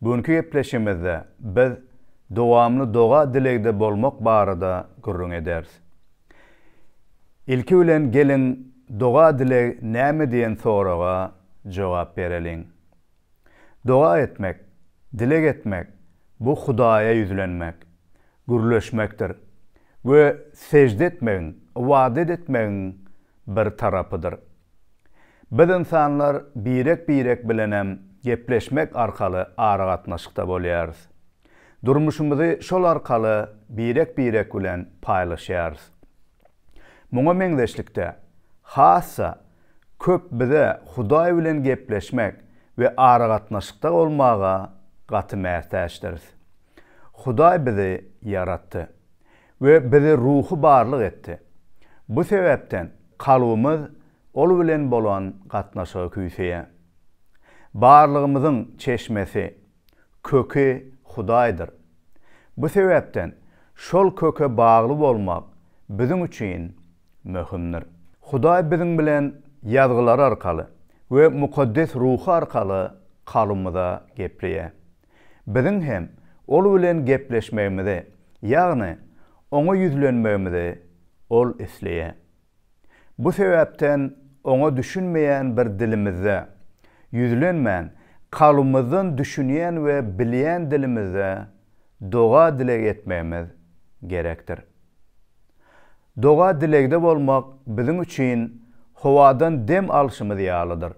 Bu günki gepleşigimizde biz dowamly doga-dilegde bolmak barada gürrüň ederis. Ilki bilen geliň doga-dileg näme diýen soraga jogap bereliň. Doga etmek, dileg etmek, bu Hudaýa ýüzlenmek, gürleşmekdir we sežde etmegiň, ybadat etmegiň bir tarapydyr. Biz ynsanlar birek-birek bilenem gepleşmek arkaly aragatnaşykda bolýarys. Durmuşymyzy şol arkaly birek-birek bilen paýlaşýarys. Muňa meňzeşlikde, hassa köp bize Hudaý bilen gepleşmek we aragatnaşykda bolmaga gaty mätäçdiris. Hudaý bizi ýaratdy. We bizi ruhy barlyk etdi. Bu sebäpden kalbymyz Ol bilen bolan gatnaşyga küýseýär. Barlygymyzyň çeşmesi, köki Hudaýdyr. Bu sebäpden şol köke bagly bolmak biziň üçin möhümdir. Hudaý biziň bilen Ýazgylar arkaly we Mukaddes Ruhy arkaly kalbymyza gepleýär. Biziň hem ol bilen gepleşmegimizi, ýagny oňa ýüzlenmegimizi ol isleýär. Bu sebäpden oňa düşünmeýän bir dilimizde, ýüzlenmän, kalbymyzdan düşünýän we bilýän dilimizde doga-dileg etmegimiz gerekdir. Doga-dilegde bolmak biziň üçin howadan dem alşymyz ýalydyr.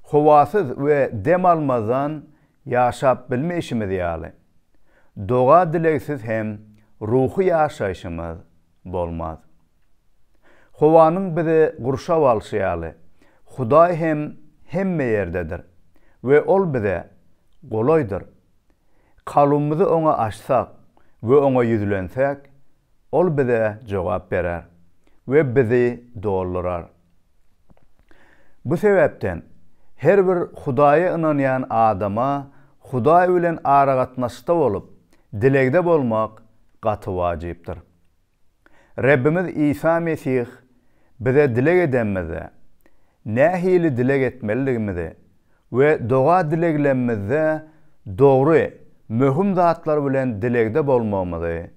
Howasyz we dem almazdan ýaşap bilmeýşimiz ýaly, doga-dilegsiz hem ruhy ýaşaýşymyz bolmaz. Howanyň bizi gurşap alşy ýaly, Hudaý hem hemme ýerdedir we Ol bize golaýdyr. Kalbymyzy Oňa açsak we Oňa ýüzlensek, Ol bize jogap berer we bizi doldurar. Bu sebäpden, her bir Hudaýa ynanýan adama Hudaý bilen aragatnaşykda bolup, dilegde bolmak gaty wajypdyr. Rebbimiz Isa Mesih bize dileg edemizde, nähili dileg etmelidigimizi we doga-dileglemizde dogry, möhüm zatlar bilen dilegde bolmagymyzy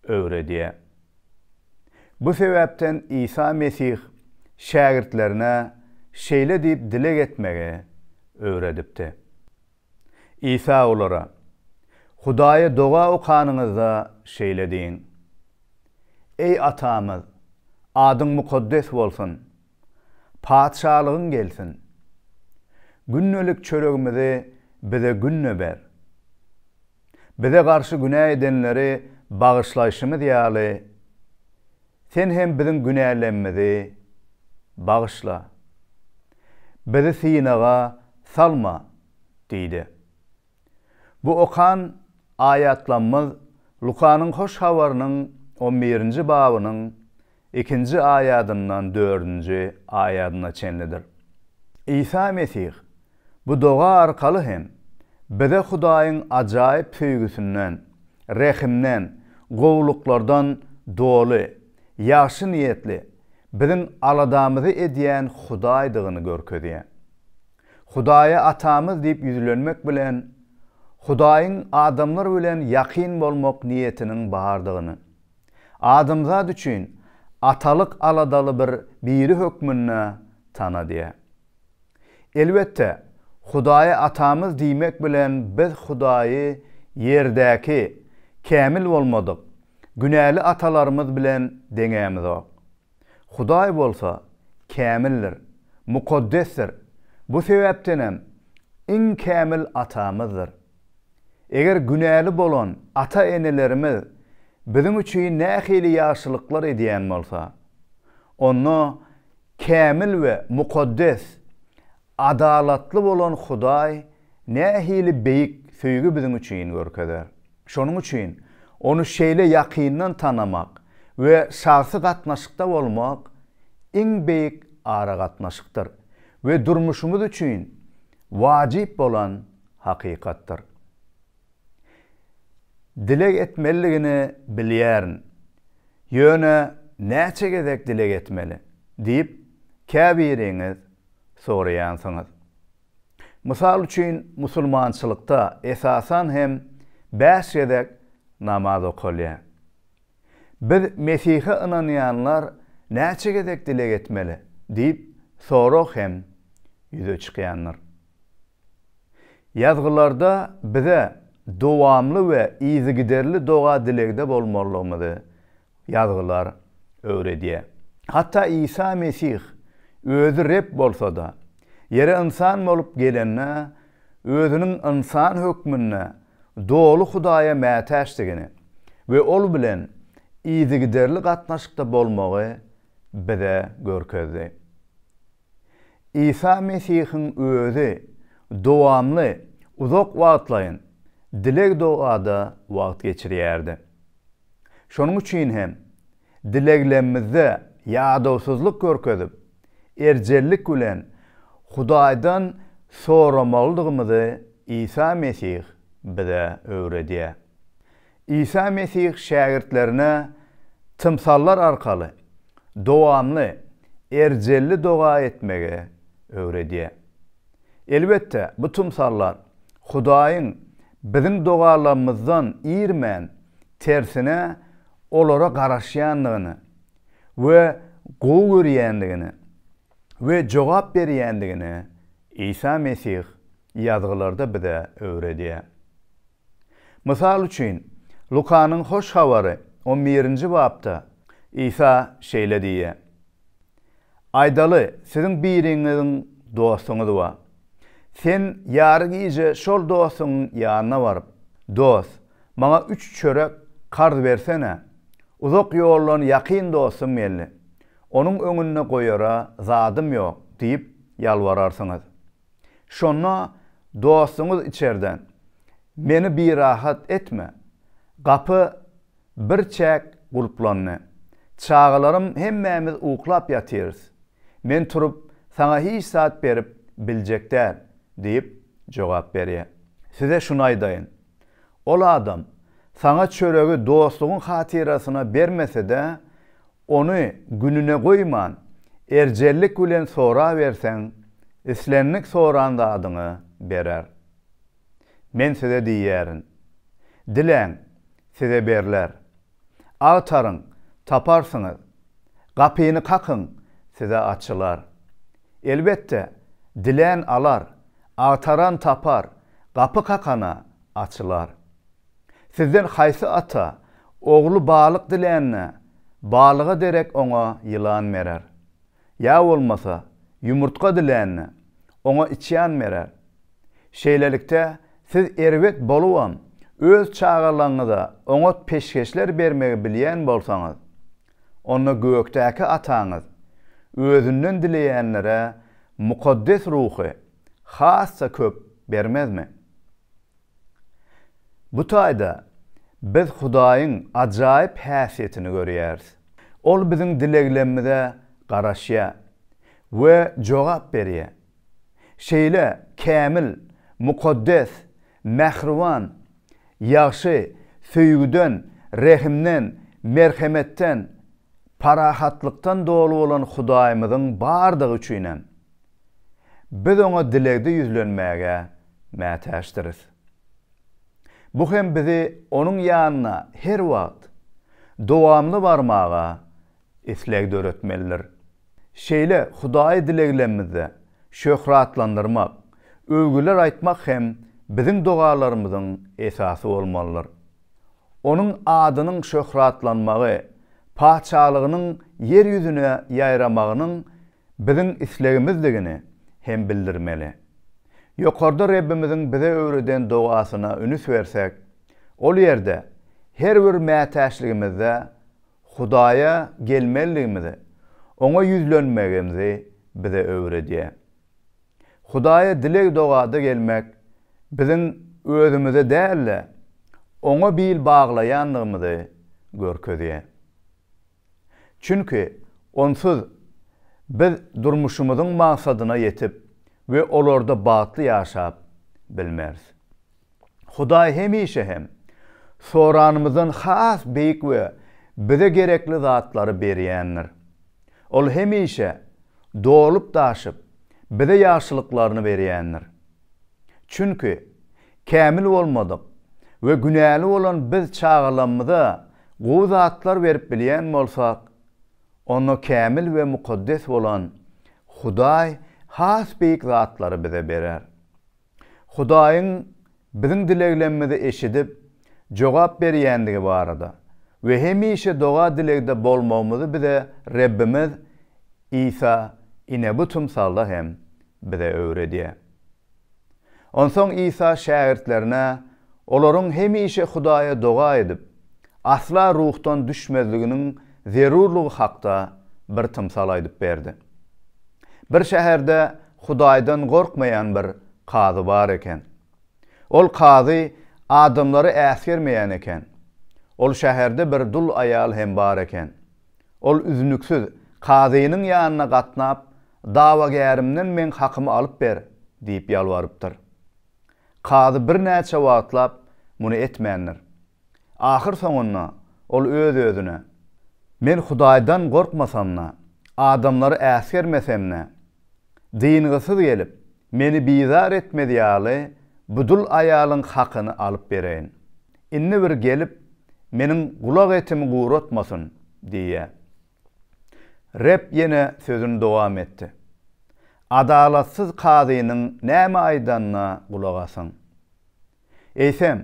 öwredýär. Bu sebäpden Isa Mesih şägirtlerine şeýle diýip dileg etmegi öwredipdi. Isa olara, Hudaýa doga okanyňyzda şeýle diýiň, Eý Atamyz, adyň mukaddes bolsun, Patyşalygyň gelsin. Gündelik çöregimizi bize günde ber. Bize garşy günä edenleri bagyşlaýşymyz ýaly, Sen hem biziň günälemmzi bagyşla. Bizi synaga salma diýdi. Bu okan aýatlamyz Lukanyň Hoş Habarynyň on birinji babynyň ikinji aýadyndan dördünji aýadyna çenlidir. Isa Mesih bu doga arkaly hem bize Hudaýyň ajaýyp söýgüsinden, rehimden, gowulyklardan doly, ýagşy niýetli, biziň aladamyzy edýän Hudaýdygyny görkezýär. Hudaýa Atamyz diýip ýüzlenmek bilen, Hudaýyň adamlar bilen ýakyn bolmak niýetiniň bardygyny, adamzat üçin atalyk aladaly bir Biri hökmünde tanadýar. Elbetde, Hudaýa Atamyz diýmek bilen biz Hudaýy ýerdäki, kämil bolmadyk, günäli atalarymyz bilen deňämizok. Hudaý bolsa kämildir, mukaddesdir, bu sebäpdenem iň kämil Atamyzdyr. Eger günäli bolan ata-enelerimiz biziň üçin nähili ýagşylyklar edýän bolsa, onda kämil we mukaddes Adalatly bolan Hudaý nähili beýik söýgi biziň üçin görkezer! Şonuň üçin Ony şeýle ýakyndan tanamak we şahsy gatnaşykda bolmak iň beýik aragatnaşykdyr we durmuşymyz üçin wajyp bolan hakykatdyr. Dileg etmelidigini bilýärin. Ýöne näçe gezek dileg etmeli? diýip, käbiriňiz soraýansyňyz. Mysal üçin, musulmançylykda esasan hem bäş gezek namaz okalýar. Biz Mesihe ynanýanlar näçe gezek dileg etmeli? diýip sorag hem ýüze çykýandyr. Ýazgylarda bize dowamly we yzygiderli doga-dilegde bolmalydygymyzy Ýazgylar öwredýär. Hatda Isa Mesih Özi Reb bolsa-da, ýere ynsan bolup gelende, Özüniň ynsan hökmünde doly Hudaýa mätäçdigini we Ol bilen yzygiderli gatnaşykda bolmagy bize görkezdi. Isa Mesihiň Özi dowamly uzak wagtlaýyn dileg-dogada wagt geçirýärdi. Şonuň üçin hem, dileglemizde ýadawsyzlyk görkezip, erjellik bilen Hudaýdan soramalydygymyzy Isa Mesih bize öwredýär. Isa Mesih şägirtlerine tymsallar arkaly dowamly erjelli doga etmegi öwredýär. Elbetde, bu tymsallar Hudaýyň biziň dogalarymyzdan irmän, tersine, olara garaşýandygyny we gowy görýändigini we jogap berýändigini Isa Mesih Ýazgylarda bize öwredýär. Mysal üçin, Lukanyň Hoş Habary on birinji bapda Isa şeýle diýýär, Aýdaly, siziň biriňiziň dostuňyz bar. Sen ýary gije şol dostuňyň ýanyna baryp, Dost, maňa üç çörek karz bersene, uzak ýoldan ýakyn dostum geldi, onuň öňünde goýara zadym ýok diýip ýalbararsyňyz. Şonda dostuňyz içerden, Meni birahat etme, gapy birçäk gulplandy. Çagalarym hemmämiz uklap ýatyrys. Men turup, saňa hiç zat berip biljek däl diýip jogap berýär. Size şuny aýdaýyn. Ol adam saňa çöregi dostlugyň hatyrasyna bermese-de, ony gününe goýman, erjellik bilen soraberseň, islendik soran zadyňy berer. Men size diýýärin, Diläň, size berler. Agtaryň, taparsyňyz. Gapyny kakyň, size açylar. Elbetde, dilän alar, agtaran tapar, gapy kakana açylar. Sizden haýsy ata, ogly balyk dilände, balyga derek oňa ýylan berer? ýa bolmasa ýumurtga dilände, oňa içýan berer. Şeýlelikde, siz erbet bolubam, öz çagalaryňyza oňat peşgeşler bermegi bilýän bolsaňyz, onda gökdäki Ataňyz Özünden dileýänlere mukaddes ruhy has-da köp bermezmi? Bu taýda biz Hudaýyň ajaýyp häsiýetini görýäris. Ol biziň dileglerimize garaşýar we jogap berýär. Şeýle kämil, mukaddes, mähriban, ýagşy, söýgüden, rehimden, merhemetden, parahatlykdan doly bolan Hudaýymyzyň bardygy üçinem, biz Oňa dilegde ýüzlenmäge mätäçdiris. Bu hem bizi Onuň ýanyna her wagt, dowamly barmaga isleg döretmelidir. Şeýle Hudaýy dileglemizde şöhratlandyrmak, öwgüler aýtmak hem biziň dogalarymyzyň esasy bolmalydyr. Onuň adynyň şöhratlanmagy, Patyşalygynyň ýer ýüzüne ýaýramagynyň biziň islegimizdigini hem bildirmeli. Ýokarda Rebbimiziň bize öwreden dogasyna ünüs bersek, ol ýerde her bir mätäçligimizde Hudaýa gelmelidigimizi, Oňa ýüzlenmegimizi bize öwredýär. Hudaýa dileg-dogada gelmek biziň özümize däl-de, Oňa bil baglaýandygymyzy görkezýär. Çünki onsuz biz durmuşymyzyň maksadyna ýetip we olarda bagtly ýaşap bilmeris. Hudaý hemişe hem soranymyzdan has beýik we bize gerekli zatlary berýändir. Ol hemişe dolup-daşyp, bize ýagşylyklaryny berýändir. Çünki, kämil bolmadyk we günäli bolan biz çagalamyza gowy zatlar berip bilýän bolsak, onda kämil we mukaddes bolan Hudaý has beýik zatlary bize berer. Hudaýyň biziň dileglemimizi eşidip, jogap berýändigi barada we hemişe doga-dilegde bolmagymyzy bize Rebbimiz Isa ine bu tymsalda hem bize öwredýär. Onsoň Isa şägirtlerine olaryň hemişe Hudaýa doga edip, asla ruhdan düşmezliginiň zerurlygy hakda bir tymsal aýdyp berdi. Bir şäherde Hudaýdan gorkmaýan bir kazy bar eken. Ol kazy adamlary äsgermeýän eken. Ol şäherde bir dul aýal hem bar eken. Ol üznüksiz kazynyň ýanyna gatnap, Dawagärimden meň hakymy alyp ber! diýip ýalbarypdyr. Kazy birnäçe wagtlap muny etmändir. Ahyr soňunda ol öz-özüne, Men Hudaýdan gorkmasam-da, adamlary äsgermesem-de, dyngysyz gelip, meni bizar etmez ýaly bu dul aýalyň hakyny alyp bereýin. Indi bir gelip, meniň gulak etimi guratmasyn! diýýär. Reb ýene sözüni dowam etdi, Adalatsyz kazynyň näme aýdanyna gulak asyň. Eýsem,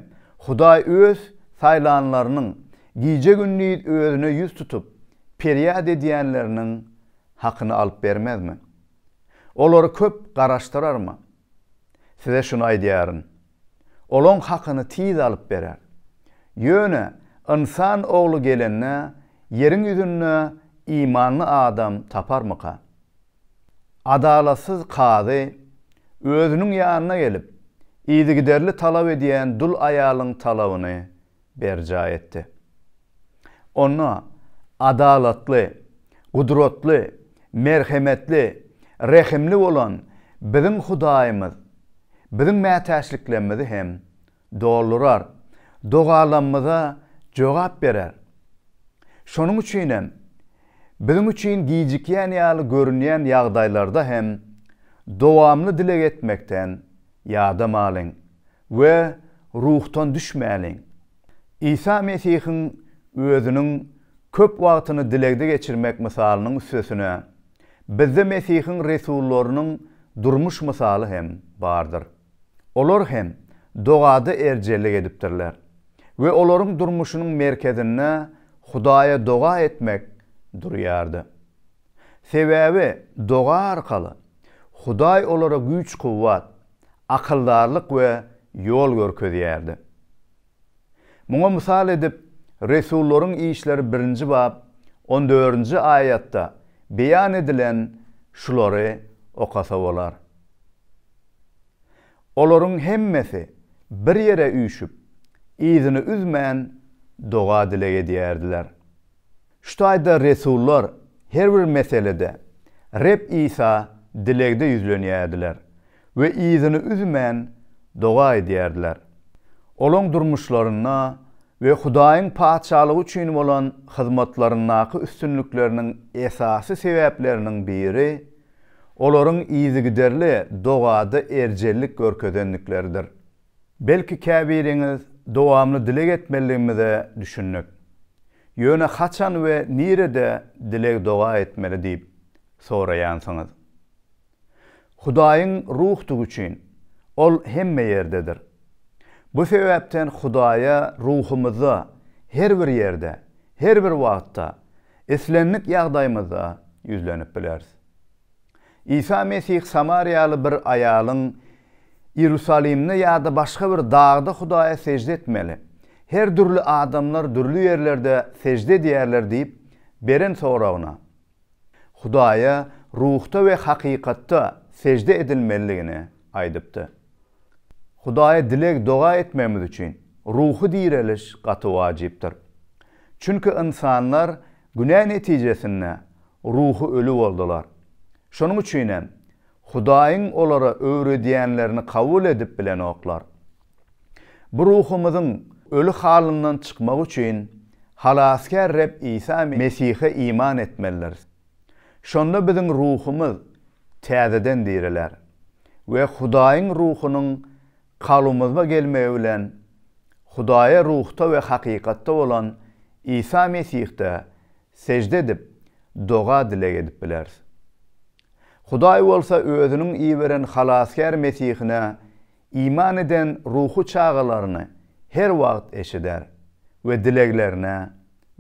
Hudaý Öz saýlanlarynyň gije-gündiz Özüne ýüz tutup, perýat edýänleriniň hakyny alyp bermezmi? Olary köp garaşdyrarmy? Size şuny aýdýaryn, olaň hakyny tiz alyp berer. Ýöne Ynsan Ogly gelende, ýeriň ýüzünde imanly adam taparmyka? Adalatsyz kazy özüniň ýanyna gelip, yzygiderli talap edýän dul aýalyň talabyny berjaý etdi. Onda adalatly, gudratly, merhemetli, rehimli bolan biziň Hudaýymyz biziň mätäçliklerimizi hem doldurar, dogalarymyza jogap berer. Şonuň üçin hem, biziň üçin gijikýän ýaly görünýän ýagdaýlarda hem dowamly dileg etmekden Ýadamalyň we ruhdan düşmäliň. Isa Mesihiň Özüniň köp wagtyny dilegde geçirmek mysalynyň üstesine, bizde Mesihiň resullarynyň durmuş mysaly hem bardyr. Olar hem dogada erjellik edipdirler we olaryň durmuşynyň merkezinde Hudaýa doga etmek durýardy. Sebäbi doga arkaly Hudaý olara güýç-kuwwat, akyldarlyk we ýol görkezýärdi. Muňa mysal edip, Resullaryň işleri birinji bap on dördünji aýatda beýan edilen şulary okasa bolar. Olaryň hemmesi bir ýere üýşüp, yzyny üzmän doga-dileg edýärdiler. Şu taýda resullar her bir meselede Reb Isa dilegde ýüzlenýärdiler we yzyny üzmän doga edýärdiler. Olaň durmuşlarynda we Hudaýyň Patyşalygy üçin bolan hyzmatlaryndaky üstünlikleriniň esasy sebäpleriniň biri olaryň yzygiderli dogada erjellik görkezendikleridir. Belki käbiriňiz dowamly dileg etmelidigimize düşündik. Ýöne haçan we nirede dileg-doga etmeli diýip soraýansyňyz. Hudaýyň ruhdygy üçin, Ol hemme ýerdedir. Bu sebäpden Hudaýa ruhumyzda her bir ýerde, her bir wagtda, islendik ýagdaýymyzda ýüzlenip bileris. Isa Mesih samariýaly bir aýalyň Iýerusalimde ýa-da başga bir dagda Hudaýa sežde etmeli, her dürli adamlar dürli ýerlerde sežde edýärler diýip, beren soragyna, Hudaýa ruhda we hakykatda sežde edilmelidigini aýdypdy. Hudaýa dileg-doga etmegimiz üçin ruhy direliş gaty wajypdyr. Çünki ynsanlar Günä netijesinde ruhy öli boldular. Şonuň üçin hem, Hudaýyň olara öwredýänlerini kabul edip bilenoklar. Bu ruhumyzyň öli halyndan çykmagy üçin Halasgär Reb Isa Mesihe iman etmelidiris. Şonda biziň ruhumyz täzeden diriler we Hudaýyň Ruhunyň Kalbymyzba gelmegi bilen Hudaýa ruhda we hakykatda bolan Isa Mesihde sežde edip, doga-dileg edip bileris. Hudaý bolsa Özüniň iberen Halasgär Mesihine iman eden ruhy çagalaryny her wagt eşider we dileglerine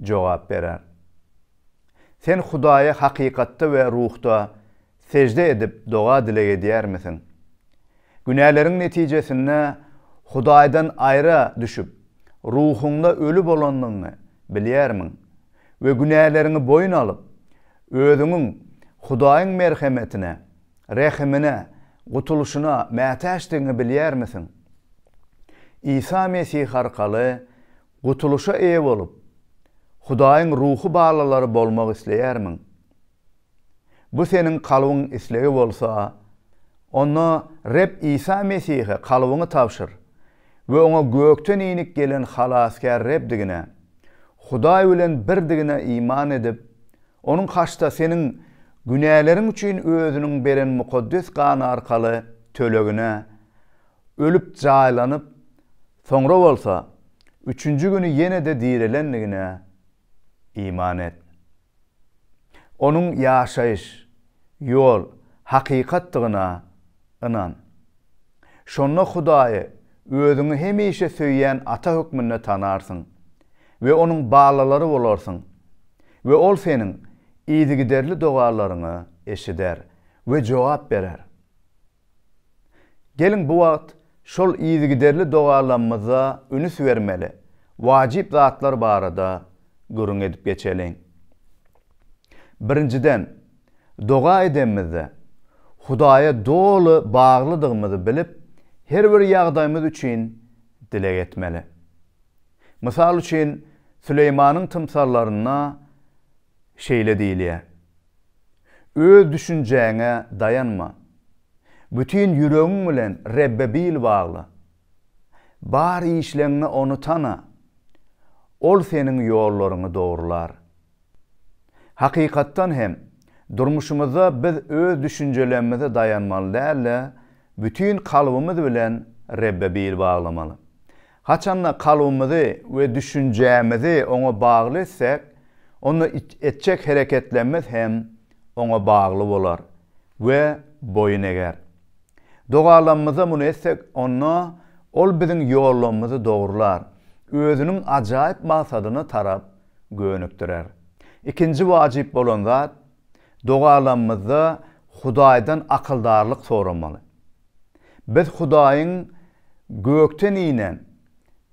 jogap berer. Sen Hudaýa hakykatda we ruhda Sejde edip doga-dileg edýärmisiň? Günäleriň netijesinde Hudaýdan aýra düşüp, ruhuňda öli bolandygyňy bilýärmiň we günäleriňi boýun alyp, özüňiň Hudaýyň merhemetine, rehimine, gutulyşyna mätäçdigiňi bilýärmisiň? Isa Mesih arkaly gutulyşa eýe bolup, Hudaýyň ruhy balalary bolmak isleýärmiň? Bu seniň kalbyň islegi bolsa, onda Reb Isa Mesihe kalbyňy tabşyr we Oňa gökden inip gelen Halasgär Rebdigine, Hudaý bilen birdigine iman edip, Onuň haçda seniň günäleriň üçin Özüniň beren mukaddes gany arkaly tölegine ölüp jaýlanyp, soňra bolsa, üçünji güni ýene-de direlendigine iman et. Onuň ýaşaýyş, ýol, hakykatdygyna ynan. Şonda Hudaýy özüňi hemişe söýýän Ata hökmünde tanarsyň we Onuň balalary bolarsyň we Ol seniň yzygiderli dogalaryňy eşider we jogap berer. Geliň bu wagt şol yzygiderli dogalamyza ünüs bermeli wajyp zatlar barada gürrüň edip geçeliň. Birinjiden, doga edemizde, Hudaýa doly baglydygymyzy bilip, her bir ýagdaýymyz üçin dileg etmeli. Mysal üçin, Süleýmanyň tymsallarynda şeýle diýilýär, Öz düşünjäňe daýanma. Bütin ýüregiň bilen Rebbe bil bagla. Bar işleňňe Ony tana. Ol seniň ýollaryňy dogrular. Hakykatdan hem, durmuşymyzda biz öz düşünjelemmize daýanmaly däl-de, bütin kalbymyz bilen Rebbe bil baglamaly. Haçan-da kalbymyzy we düşünjämizi Oňa bagly etsek, onda etjek hereketlerimiz hem Oňa bagly bolar we boýun eger. Dogalarymyzda muny etsek, onda Ol biziň ýollarymyzy dogrular, Özüniň ajaýyp maksadyna tarap gönükdirer. Ikinji wajyp bolan zat, Dogalanymyzda Hudaýdan akyldarlyk soramaly. Biz Hudaýyň gökden inen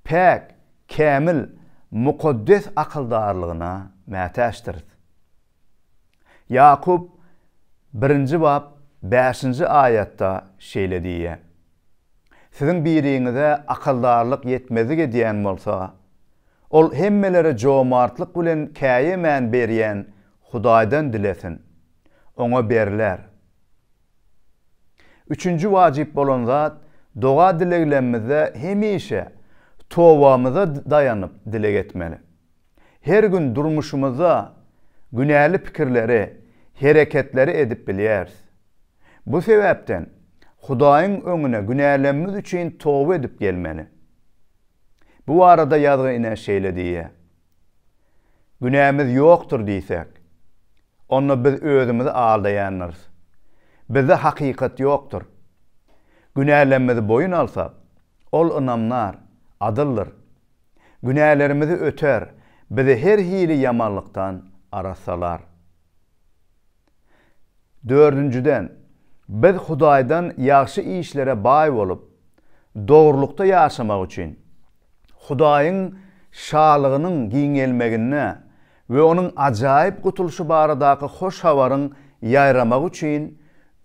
päk, kämil, mukaddes akyldarlygyna mätäçdiris. Ýakup birinji bap bäşinji aýatda şeýle diýýär, Siziň biriňize akyldarlyk ýetmezlik edýän bolsa, ol hemmelere jomartlyk bilen käýemän berýän Hudaýdan dilesin, oňa berler. Üçünji wajyp bolan zat, doga-dileglemizde hemişe towbamyza daýanyp dileg etmeli. Her gün durmuşymyzda günäli pikirleri, hereketleri edip bilýäris. Bu sebäpden Hudaýyň öňüne günälemmiz üçin toba edip gelmeli. Bu barada ýazgy ine şeýle diýýär. Günämiz ýokdur diýsek, onda biz özümizi aldaýandyrys. Bizde hakykat ýokdur. Günälemmizi boýun alsak, Ol ynamdar, adyldyr. Günälerimizi öter, bizi her hili ýamanlykdan arassalar. Dördünjiden, biz Hudaýdan ýagşy işlere baý bolup, dogrulykda ýaşamak üçin, Hudaýyň Şalygynyň giňelmegine we onuň ajaýyp gutulyşy baradaky hoş habaryň ýaýramagy üçin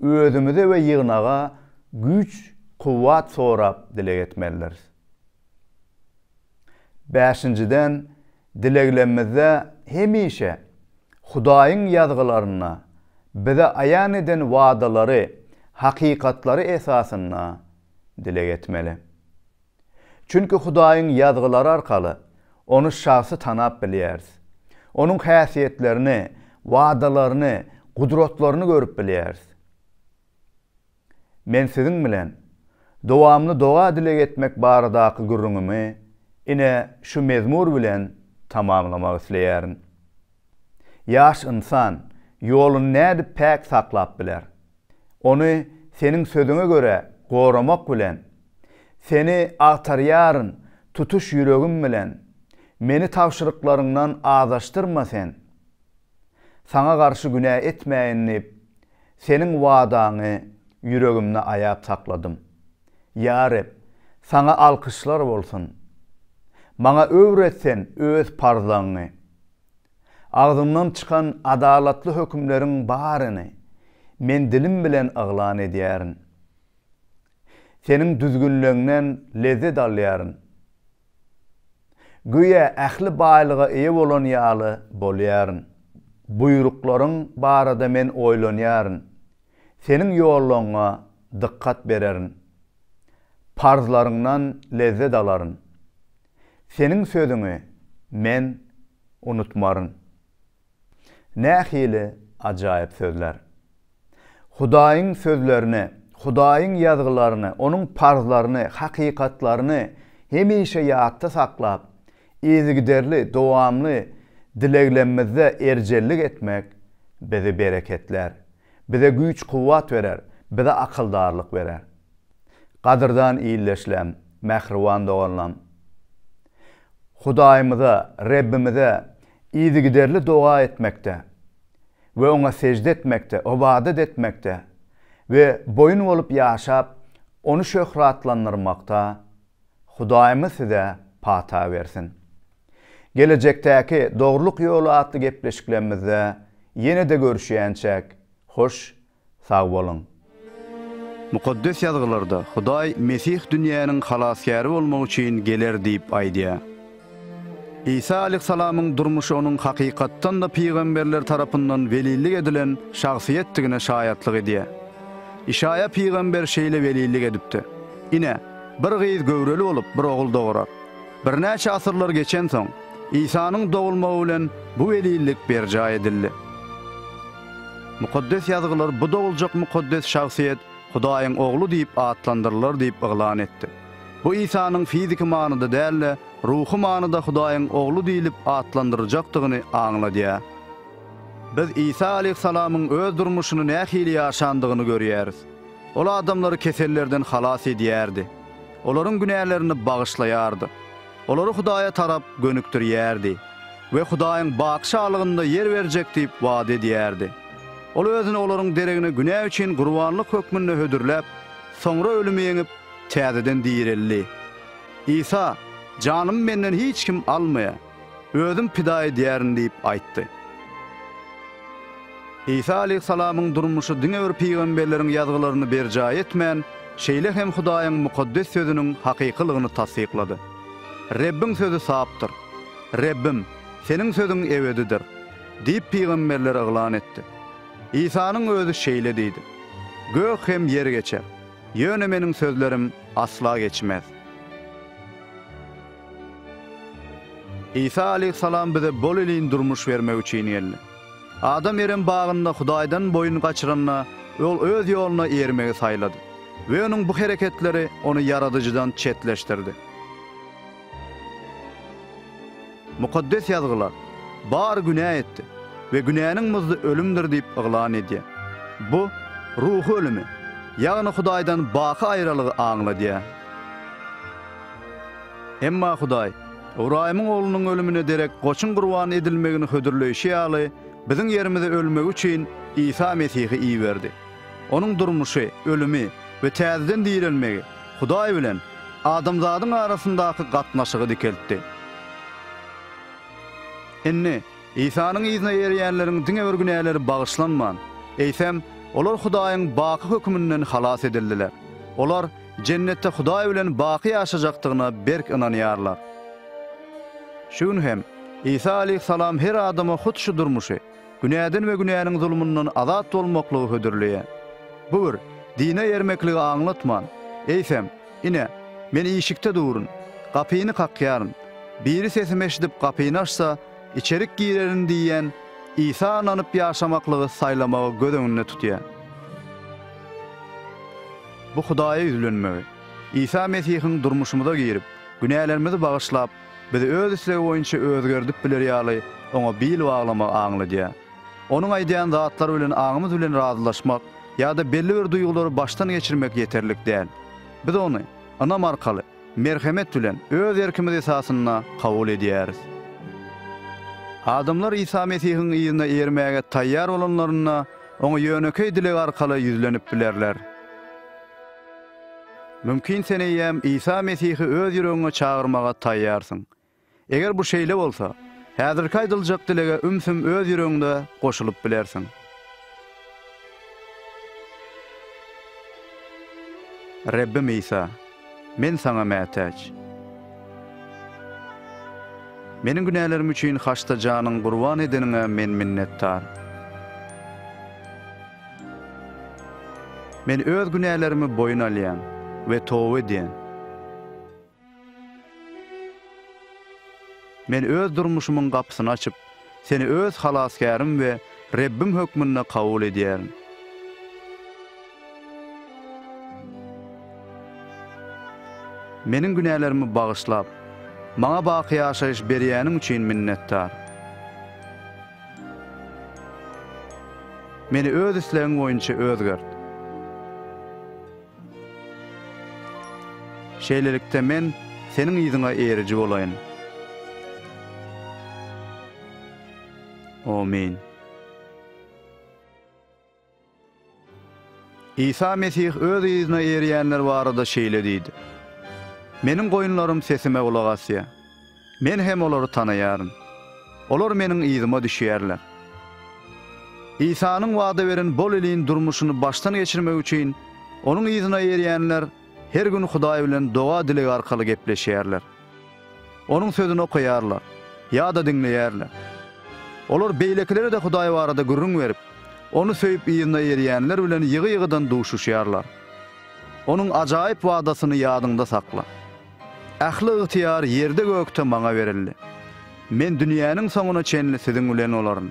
özümize we ýygnaga güýç-kuwwat sorap dileg etmelidiris. Bäşinjiden, dileglemizde hemişe Hudaýyň Ýazgylarynda bize aýan eden wadalary, hakykatlary esasynda dileg etmeli. Çünki Hudaýyň Ýazgylary arkaly Ony şahsy tanap bilýäris. Onuň häsiýetlerini, wadalaryny, gudratlaryny görüp bilýäris. Men siziň bilen dowamly doga-dileg etmek baradaky gürrüňimi ine şu mezmur bilen tamamlamak isleýärin. Ýaş ynsan ýoluny nädip päk saklap biler? Ony Seniň Sözüňe görä goramak bilen, Seni agtarýaryn tutuş ýüregim bilen, Meni tabşyryklaryňdan azaşdyrma Sen. Saňa garşy günä etmäýin diýip, Seniň wadaňy ýüregimde aýap sakladym. Ýa Reb, Saňa alkyşlar bolsun! Maňa öwret Sen Öz parzlaňňy. Agzyňdan çykan adalatly hökümleriň baryny men dilim bilen yglan edýärin. Seniň düzgünleňden lezzet alýaryn. Göýä ähli baýlyga eýe bolan ýaly bolýaryn. Buýruklaryň barada men oýlanýaryn. Seniň ýollaryňa dykgat bererin. Parzlaryňdan lezzet alaryn. Seniň sözüňi men unutmaryn. Nähili ajaýyp sözler! Hudaýyň sözlerini, Hudaýyň Ýazgylaryny, Onuň parzlaryny, hakykatlaryny hemişe ýatda saklap, yzygiderli, dowamly dileglemizde erjellik etmek bizi bereketlär. Bize güýç-kuwwat berer, bize akyldarlyk berer. Gadyrdan ildeşlem, mähriban doganlam! Hudaýymyza, Rebbimize yzygiderli doga etmekde we Oňa sežde etmekde, ybadat etmekde we boýun bolup ýaşap, Ony şöhratlandyrmakda, Hudaýymyz size pata bersin. Gelejekdäki Dogrulyk ýoly atly gepleşiklerimizde ýene-de görüşýänçäk, hoş sag boluň! Mukaddes Ýazgylarda Hudaý Mesih dünýäniň Halasgäri bolmak üçin geler diýip aýdýar. Isa aleýhissalamyň durmuşy onuň hakykatdan-da pygamberler tarapyndan welillik edilen şahsyýetdigine şaýatlyk edýär. Işaýa pygamber şeýle welillik edipdi, Ine, bir gyz göwreli bolup, bir ogul dogurar. Birnäçe asyrlar geçensoň, Isanyň dogulmagy bilen bu welillik berjaý edildi. Mukaddes Ýazgylar bu doguljak mukaddes şahsyýet Hudaýyň Ogly diýip atlandyrylar diýip yglan etdi. Bu Isanyň fiziki manyda däl-de, ruhy manyda Hudaýyň Ogly diýlip atlandyryljakdygyny aňladýar. Biz Isa aleýhissalamyň öz durmuşyny nähili ýaşandygyny görýäris. Ol adamlary kesellerden halas edýärdi. Olaryň günälerini bagyşlaýardy. Olary Hudaýa tarap gönükdirýärdi we Hudaýyň bakyşalygynda ýer berjek diýip wada edýärdi. Ol özüni olaryň deregine günä üçin gurbanlyk hökmünde hödürläp, soňra ölümi ýeňip, täzeden direldi. Isa, Janymy Menden hiç kim almaýar, Özüm pida edýärin diýip aýtdy. Isa aleýhissalamyň durmuşy diňe bir pygamberleriň ýazgylaryny berjaý etmän, şeýle hem Hudaýyň mukaddes Sözüniň hakykylygyny tassyklady. Rebbiň sözi sapdyr. Rebbim, Seniň sözüň ebedidir! diýip pygamberler yglan etdi. Isanyň Özi şeýle diýdi, Gök hem ýer geçer, Ýöne meniň sözlerim asla geçmez. Isa aleýhissalam bize bol-elin durmuş bermek üçin geldi. Adam Erem bagynda Hudaýdan boýun gaçyranda, ol öz ýoluna eýermegi saýlady we onuň bu hereketleri ony Ýaradyjydan çetleşdirdi. Mukaddes Ýazgylar, Bar günä etdi we günäniň muzdy ölümdir diýip yglan edýär. Bu, ruhy ölümi, ýagny Hudaýdan baky aýralygy aňladýar. Emma Hudaý, Ybraýymyň oglunyň ölümine derek goçuň gurban edilmegini hödürleýşi ýaly, biziň ýerimize ölmegi üçin Isa Mesihi iberdi. Onuň durmuşy, ölümi we täzeden direlmegi Hudaý bilen adamzadyň arasyndaky gatnaşygy dikeltdi. Indi, Isanyň yzyna erýänleriň diňe bir günäleri bagyşlanman, eýsem, olar Hudaýyň baky höküminden halas edildiler. Olar Jennetde Hudaý bilen baky ýaşajakdygyna berk ynanýarlar. Şu gün hem, Isa aleýhissalam her adama hut şu durmuşy, günäden we günäniň zulmundan azat bolmaklygy hödürleýär. Bu bir dine ýermekligi aňlatman, eýsem, Ine, men işikde durun, gapyny kakýaryn, biri sesimi eşidip gapyny açsa, içerik girerin diýýän Isa ynanyp ýaşamaklygy saýlamagy göz öňünde tutýar. Bu Hudaýa ýüzlenmegi, Isa Mesihiň durmuşymyza girip, günälerimizi bagyşlap, Biz öz islegi boýunça özgerdip biler ýaly, oňa bil baglamak aňladýar. Onuň aýdýan zatlary bilen aňymyz bilen razylaşmak ýa-da belli bir duýgulary başdan geçirmek ýeterlik däl. Biz ony ynam arkaly, merhemet bilen, öz erkimiz esasynda kabul edýäris. Adamlar Isa Mesihiň yzyna ermäge taýýar bolanlarynda, Oňa ýönekeý dileg arkaly ýüzlenip bilerler. Mümkin sen eýýäm Isa Mesihi öz ýüregiňe çagyrmaga taýýarsyň. Eger bu şeýle bolsa, häzirki aýdyljak dilege ümsüm öz ýüregiňde goşulyp bilersiň. Rebbim Isa, men Saňa mätäç. Meniň günälerim üçin haçda janyň gurban edeniňe men minnetdar. Men öz günälerimi boýun alýan we toba edýän. Men öz durmuşymyň gapysyny açyp, Seni öz Halasgärim we Rebbim hökmünde kabul edýärin. Meniň günälerimi bagyşlap, maňa baky ýaşaýyş berýäniň üçin minnetdar. Meni Öz islegiň boýunça özgert. Şeýlelikde, men Seniň yzyňa eriji bolaýyn. Amin. Isa Mesih öz yzyna eýerýänler barada şeýle diýdi, Meniň goýunlarym sesime gulak asýar. Men hem olary tanaýaryn. Olar Meniň yzyma düşýärler. Isanyň wada beren bol iliň durmuşyny başdan geçirmek üçin Onuň yzyna eýerýänler her gün Hudaý bilen doga-dileg arkaly gepleşýärler. Onuň sözüni okaýarlar ýa-da diňleýärler. Olar beýlekilere-de Hudaý barada gürrüň berip, Ony söýüp yzyna erýänler bilen ýygy-ýygydan duşuşýarlar. Onuň ajaýyp wadasyny ýadyňda sakla. Ähli ygtyýar ýerde-gökde Maňa berildi. Men dünýäniň soňuna çenli siziň bilen bolaryn.